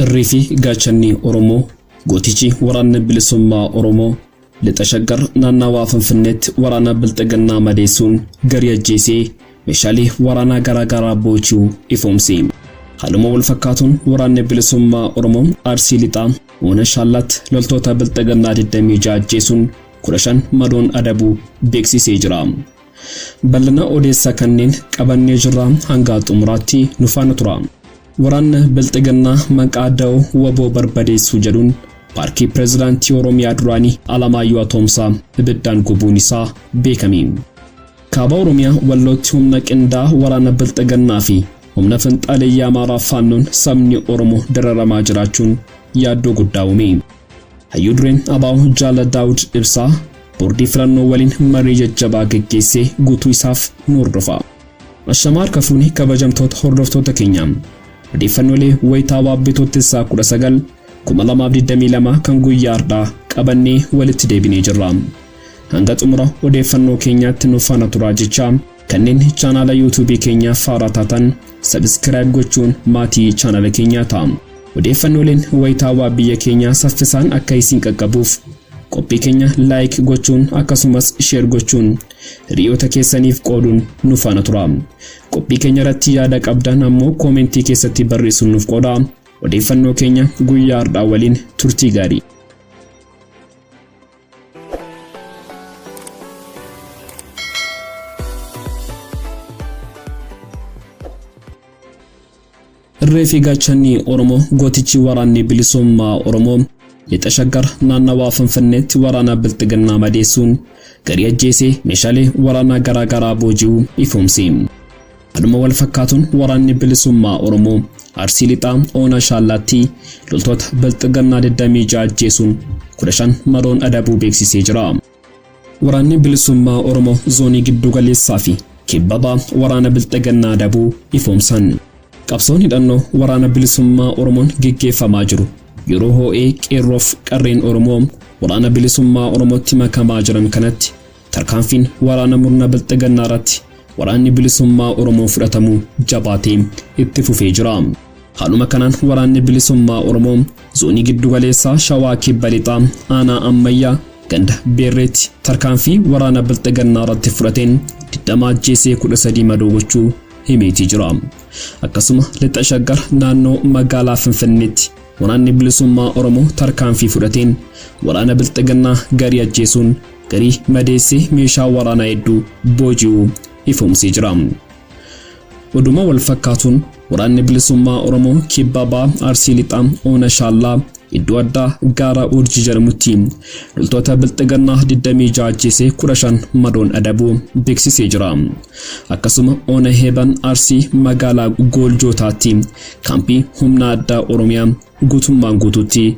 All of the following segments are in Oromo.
Irrii fi gaachanni Oromoo gootichi waraanni bilisummaa Oromoo lixa shaggar naannawaa Finfinneetti waraana bilxiginnaa madeessuun garii ajjeesee meeshaalee waraanaa garaagaraa boochuu ifoomse. Haaluma wal fakkaatuun waraanni bilisummaa Oromoo Arsii Lixaa Oona Shaallaatti loltoota bilxiginnaa 26 ajjeesuun 15 madoon adabuu beeksisee jira. Bal'ina odeessa kanneen qabannee jirra hangaa xumuraatti nu faana tura. Waraanna Bilxiginnaa maqaa Dao waboo barbadeessuu jedhuun paarkii pirezidaantii Oromiyaa duraanii Alamaayyoo Atoomsaa ibiddaan gubuun isaa beekame. Kaaba Oromiyaa Wallootti humna qindaa waraana Bilxiginnaa fi humna finxaaleyyaa Amaaraa Faannoon sabni Oromoo dararamaa jiraachuun yaaddoo guddaa uume. Hayyuu dureen Abaaw Jaala Daawud Ibsaa boordii filannoo waliin marii jajjabaa geggeessee guutuu isaaf nu hordofa. Ashamaa harka fuune kabajamtoota hordoftoota keenya. Odeeffannoolee wayitaa Baabbee Toottessaa 19 2022 kan guyyaa har'aa qabannee walitti deebinee jirra. Hanga xumura odeeffannoo keenyaatti nu faana turaa jechaa Kanneen chaanaala YouTube keenyaaf haaraa taatan subscribe gochuun maatii chaanaala keenyaa ta'aa. Odeeffannooleen wayitaawaa biyya keenyaa saffisaan akka isin qaqqabuuf qophii keenya like gochuun akkasumas share gochuun hiriyoota keessaniif qooduun nu faana tura. Qophii keenya irratti yaada qabdan ammoo koomentii keessatti barreessuun nuuf qoodaa. Odeeffannoo keenya guyyaa har'aa waliin turtii gaarii. Irree fi gaachanni Oromoo gootichi waraanni bilisummaa Oromoo lixa shaggar naannawaa Finfinneetti waraanaa bilxiginnaa madeessuun garii ajjeesee meeshaalee waraanaa garaagaraa booji'uu ifoomse. Haaluma wal fakkaatuun waraanni bilisummaa Oromoo Arsii Lixaa Oona Shaallaattii loltoota Bilxiginnaa 26 ajjeesuun 15 madoon adabuu beeksisee jira. Waraanni bilisummaa Oromoo zoonii giddu galeessaa fi kibba bahaa waraana Bilxiginnaa adabuu ifoomsan. Qabsoon hidhannoo waraana bilisummaa Oromoon geggeeffamaa jiru yeroo hoo'ee qeerroof qarreen Oromoo waraana bilisummaa Oromootti makamaa jiran kanatti Tarkaanfiin waraana murna bilxigannaa irratti waraanni bilisummaa Oromoo fudhatamu jabaatee itti fufee jira. Haaluma kanaan waraanni bilisummaa Oromoo zoonii giddu galeessaa Shawaa Kibba Lixaa aanaa Ammayyaa ganda Beerreetti tarkaanfii waraana bilxigannaa irratti fudhateen 20 ajjeesee 13 madoo gochuu himeetii jira. Akkasuma lixa shaggar naannoo magaalaa Finfinneetti waraanni bilisummaa Oromoo tarkaanfii fudhateen waraana bilxigannaa garii ajjeesuun garii madeessee meeshaa waraanaa hedduu booji'uu ifoomsee jira. Oduma wal fakkaatuun waraanni bilisummaa Oromoo kibba baa Arsii Lixaa Oona Shaallaa iddoo addaa gaara Urjii jedhamutti loltoota bilxigannaa 26 ajjeesee 15 madoon adabuu beeksisee jira. Akkasuma Oona Heeban Arsii magaalaa Gooljootaatti kaampii humna addaa Oromiyaa guutummaan guutuutti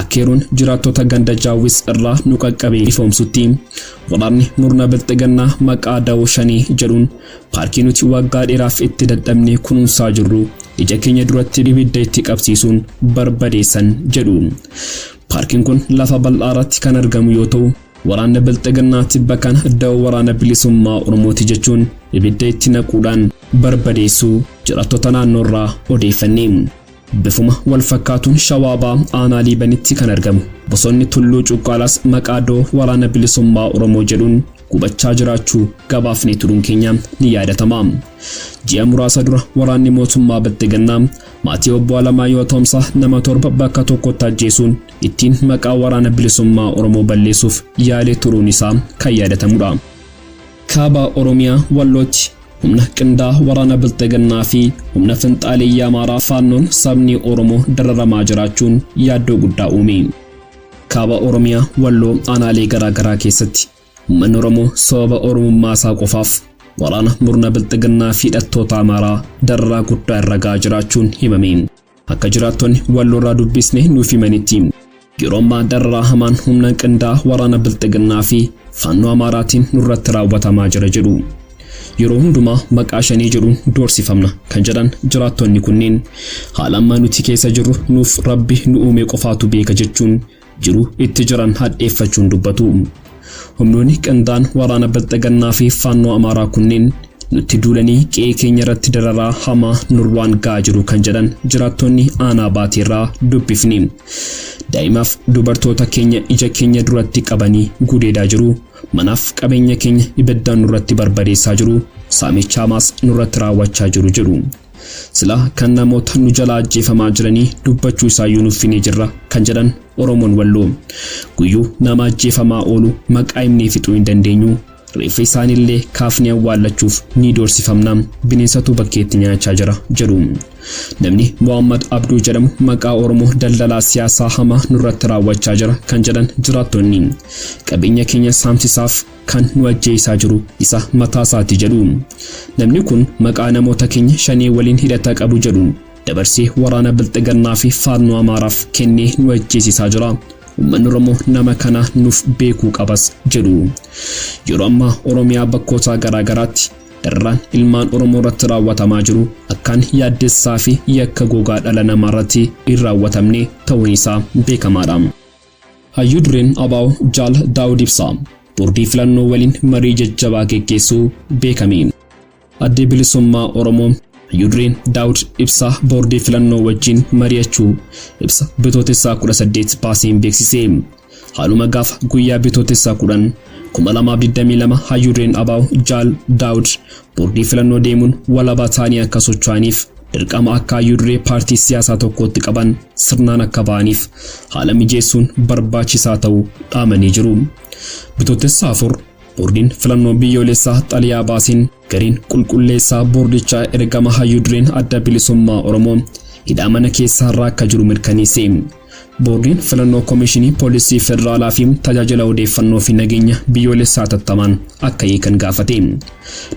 Akkeeruun jiraattota ganda Jaawwis irraa nu qaqqabee ifoomsutti waraanni murna bilxiginnaa maqaa dawoo shanee jedhuun paarkii nuti waggaa dheeraaf itti dadhabnee kunuunsaa jirru ija keenya duratti ibidda itti qabsiisuun barbadeessan jedhu. Paarkiin kun lafa bal'aa irratti kan argamu yoo ta'u, waraanni bilxiginnaa tibba kana dawoo waraana bilisummaa Oromooti jechuun ibidda itti naquudhaan barbadeessuu jiraattota naannoo irraa odeeffanne. Bifuma wal fakkaatuun Shawaa Bahaa aanaa Liibanitti kan argamu bosonni Tulluu Cuqqaalaas maqaa doo Waraana Bilisummaa Oromoo jedhuun gubachaa jiraachuu gabaafnee turuun keenya ni yaadatama. Ji'a muraasa dura waraanni mootummaa Bilxigannaa maatii obbo Alamaayoo Atoomsaa nama torba bakka tokkotti ajjeesuun ittiin maqaa Waraana Bilisummaa Oromoo balleessuuf yaalee turuun isaa kan yaadatamudha. Kaaba Oromiyaa Wallootti humna qindaa waraana bilxiginnaa fi humna finxaaleeyyii amaaraa faannoon sabni oromoo dararamaa jiraachuun yaaddoo guddaa uume kaaba oromiyaa walloo aanaalee garaagaraa keessatti ummanni oromoo sababa oromummaa isaa qofaaf waraana murna bilxiginnaa fi hidhattoota amaaraa dararaa guddaa irra ga'aa jiraachuun himame Akka jiraattonni walloorraa dubbisne nuuf himanitti yeroo ammaa dararaa hamaan humna qindaa waraana bilxiginnaa fi faannoo amaaraatiin nurratti raawwatamaa jira jedhu. Yeroo hundumaa maqaa shanee jedhuun doorsifamna kan jedhan jiraattonni kunneen haala ammaa nuti keessa jirru nuuf rabbi nu uumee qofaatu beeka jechuun jiru itti jiran hadheeffachuun dubbatu. Humnoonni qindaa'an waraana Bilxigannaa fi Faannoo Amaaraa kunneen nutti duulanii qe'ee keenya irratti dararaa hamaa nurraan ga'aa jiru kan jedhan jiraattonni aanaa baatee irraa dubbifne. Daa'imaaf dubartoota keenya ija keenya duratti qabanii gudeedaa jiru. Manaaf qabeenya keenya ibiddaan nurratti barbadeessaa jiru. Saamicha hamaas nurratti raawwachaa jiru jedhu. Sila kan namoota nu jalaa ajjeefamaa jiranii dubbachuu isaayyuu nuffinee jirra kan jedhan Oromoon Walloo. Guyyuu nama ajjeefamaa oolu maqaa himnee fixuu hin dandeenyu. Reeffa isaaniillee kaafnee awwaallachuuf ni doorsifamna. Bineensatu bakkeetti nyaachaa jira jedhu. Namni Muhammad Abduu jedhamu maqaa Oromoo daldalaa siyaasaa hamaa nurratti raawwachaa jira kan jedhan jiraattonni. Qabeenya keenya saamsisaaf kan nu ajjeesaa jiru isa mataa isaati jedhu. Namni kun maqaa namoota keenya shanee waliin hidhata qabu jedhuun dabarsee waraana bilxigannaa fi faannoo Amaaraaf kennee nu ajjeesisaa jira. Uummanni Oromoo nama kana nuuf beekuu qabas jedhu. Yeroo ammaa Oromiyaa bakkootaa garaa garaatti dararaan ilmaan Oromoo irratti raawwatamaa jiru akkaan yaaddessaa fi yakka gogaa dhala namaa irratti hin raawwatamne ta'uun isaa beekamaadha. Hayyuu dureen ABO Jaal Daawud Ibsaa boordii filannoo waliin marii jajjabaa geggeessuu beekame. Addi Bilisummaa Oromoo hayyuu dureen Daawud Ibsaa boordii filannoo wajjin mari'achuu ibsa bitootessaa 18 baaseen beeksise. Haaluma gaafa guyyaa bitootessaa 10 2022 hayyuu dureen ABO Jaal Daawud boordii filannoo deemuun walabaa ta'anii akka socho'aniif dirqama akka hayyuu duree paartii siyaasaa tokkootti qaban sirnaan akka ba'aniif haala mijeessuun barbaachisaa ta'uu dhaamanii jiru. Bitootessa afur boordiin filannoo biyyoolessaa xaliyaa baasiin gariin qulqulleessaa boordichaa ergama hayyuu dureen adda bilisummaa Oromoo hidhaa mana keessaa irraa akka jiru mirkaneesse. Boordiin filannoo koomishinii poolisii federaalaa fi tajaajila odeeffannoo fi nageenya biyyoolessaa tattamaan akka hiikan gaafate.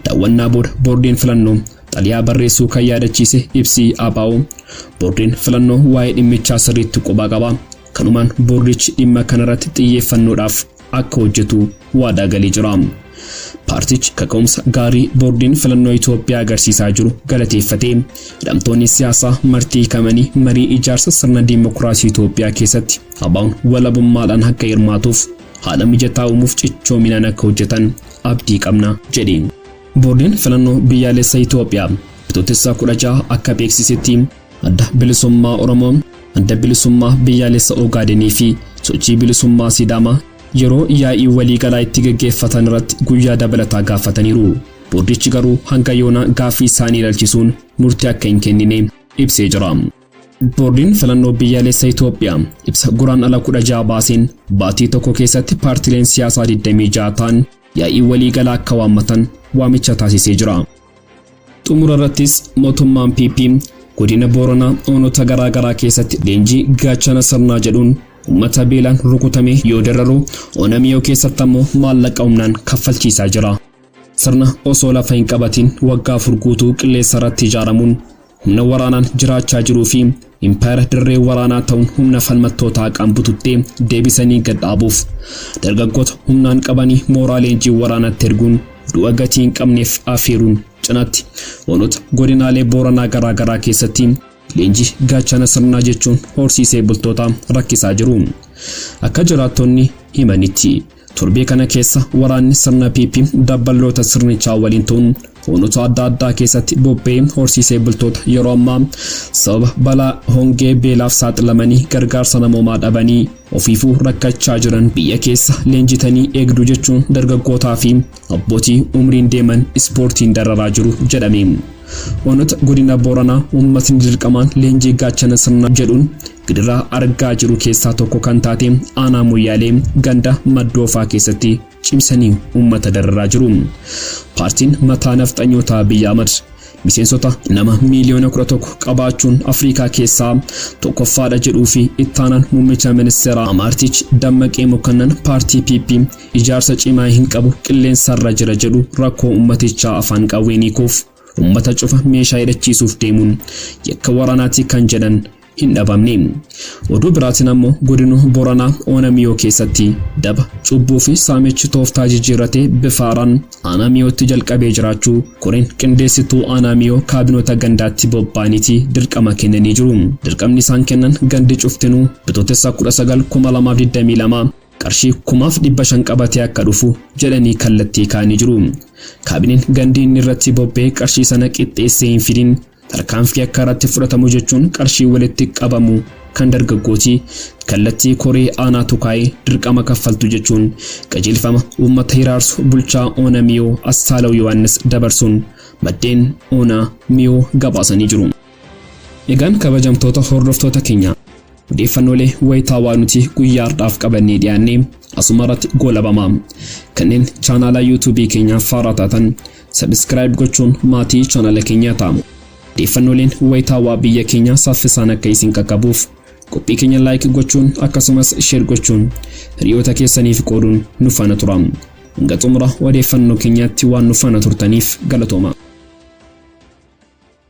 Daawwannaa booda boordiin filannoo Xaliyaa barreessuu kan yaadachiise ibsi ABO boordiin filannoo waa'ee dhimmichaa sirriitti quba qaba. Kanumaan boordichi dhimma kanarratti xiyyeeffannoodhaaf akka hojjetu waadaa galee jira. Paartichi kaka'umsa gaarii boordiin filannoo Itoophiyaa agarsiisaa jiru galateeffatee hidhamtoonni siyaasaa martii hiikamanii marii ijaarsa sirna diimokiraasii Itoophiyaa keessatti ABOn walabummaadhaan akka hirmaatuuf haala mijataa uumuuf cichoominaan akka hojjetan abdii qabna jedhe. Boordiin filannoo biyyaalessa Itoophiyaa bitootessa 16 akka beeksisetti adda bilisummaa Oromoo, adda bilisummaa biyyaalessa Ogaadeenii fi sochii bilisummaa Sidaamaa yeroo yaa'ii waliigalaa itti gaggeeffatan irratti guyyaa dabalataa gaafataniiru. Boordichi garuu hanga yoonaa gaaffii isaanii ilaalchisuun murtii akka hin kennine ibsee jira. Boordiin filannoo biyyaalessa Itoophiyaa ibsa Guraandhala 16 baaseen baatii tokko keessatti paartileen siyaasaa 26 ta'an yaa'ii walii galaa akka waammatan waamicha taasisee jira. Xumura irrattis mootummaan PP godina Booranaa oonota garaa garaa keessatti leenjii gaachana sirnaa jedhuun uummata beelaan rukutamee yoo dararu ona miyoo keessatti ammoo maallaqa humnaan kaffalchiisaa jira. Sirna osoo lafa hin qabatiin waggaa afur guutuu qilleessa irratti ijaaramuun Humna waraanaan jiraachaa jiruu fi impaayera dirree waraanaa ta'uun humna falmattootaa haqaan bututtee deebisanii gad dhaabuuf dargaggoota humnaan qabanii mooraa leenjii waraanaatti erguun du'a gatii hin qabneef afeeruun cinatti onoota godinaalee Booranaa garaa garaa keessatti leenjii gaachana sirnaa jechuun horsiisee bultoota rakkisaa jiru. Akka jiraattonni himanitti. Torbee kana keessa waraanni sirna PP dabballoota sirnichaa waliin ta'uun hoonota adda addaa keessatti bobba'ee horsiisee bultoota yeroo ammaa sababa balaa hongee beelaaf saaxilamanii gargaarsa namoomaa dhabanii ofiifuu rakkachaa jiran biyya keessa leenjitanii eegdu jechuun dargaggootaa fi abbootii umriin deeman ispoortiin dararaa jiru jedhame. Hoonota godina Booranaa uummatni dirqamaan leenjii gaachana sirna jedhuun Gidiraa argaa jiru keessaa tokko kan taate aanaa Moyyaalee ganda Maddoofaa keessatti cimsanii uummata dararaa jiru. Paartiin mataa nafxanyootaa Abiy Ahmad miseensota nama miiliyoona 11 qabaachuun Afrikaa keessaa tokkoffaadha jedhuu fi ittaanaan muummicha ministeeraa Amaartichi Dammaqee Mokonnan paartii PP ijaarsa cimaa hin qabu qilleensarra jira jedhu rakkoo uummatichaa afaan qawween hiikuuf Ummata cufa meeshaa hidhachiisuuf deemuun yakka waraanaati kan jedhan hin dhabamne. Oduu biraatiin ammoo godina Booranaa Ona Miyoo keessatti daba, cubbuu fi saamichi tooftaa jijjiirratee bifa haaraan Aanaa Miyootti jalqabee jiraachuu koreen qindeessituu Aanaa Miyoo kaabinoota gandaatti bobba'aniiti dirqama kennanii jiru. Dirqamni isaan kennan gandi cuftinuu Bitootessa 19,2022 qarshii kumaaf 500 qabatee akka dhufu jedhanii kallattii kaa'anii jiru. Kaabineen gandi inni irratti bobba'ee qarshii sana qixxeessee hin fidin tarkaanfii akka irratti fudhatamu jechuun qarshii walitti qabamu kan dargaggooti kallattii koree aanaatu kaa'ee dirqama kaffaltu jechuun qajeelfama uummata hiraarsu bulchaa Oona Miyoo Assaalaw Yohaannis dabarsuun maddeen Oona Miyoo gabaasanii jiru. Egaan kabajamtoota hordoftoota keenya odeeffannoolee wayitaawaa nuti guyyaa har'aaf qabannee dhiyaanne asuma irratti goolabama. Kanneen chaanaalaa yuutuubii keenyaaf faaraa taatan sabiskiraayib gochuun maatii chaanaala keenyaa ta'a. Odeeffannooleen wayitaawaa biyya keenyaa saffisaan akka isin qaqqabuuf qophii keenya laayik gochuun akkasumas sheer gochuun hiriyoota keessaniif qooduun nu faana tura. Hanga xumura odeeffannoo keenyaatti waan nu faana turtaniif galatooma.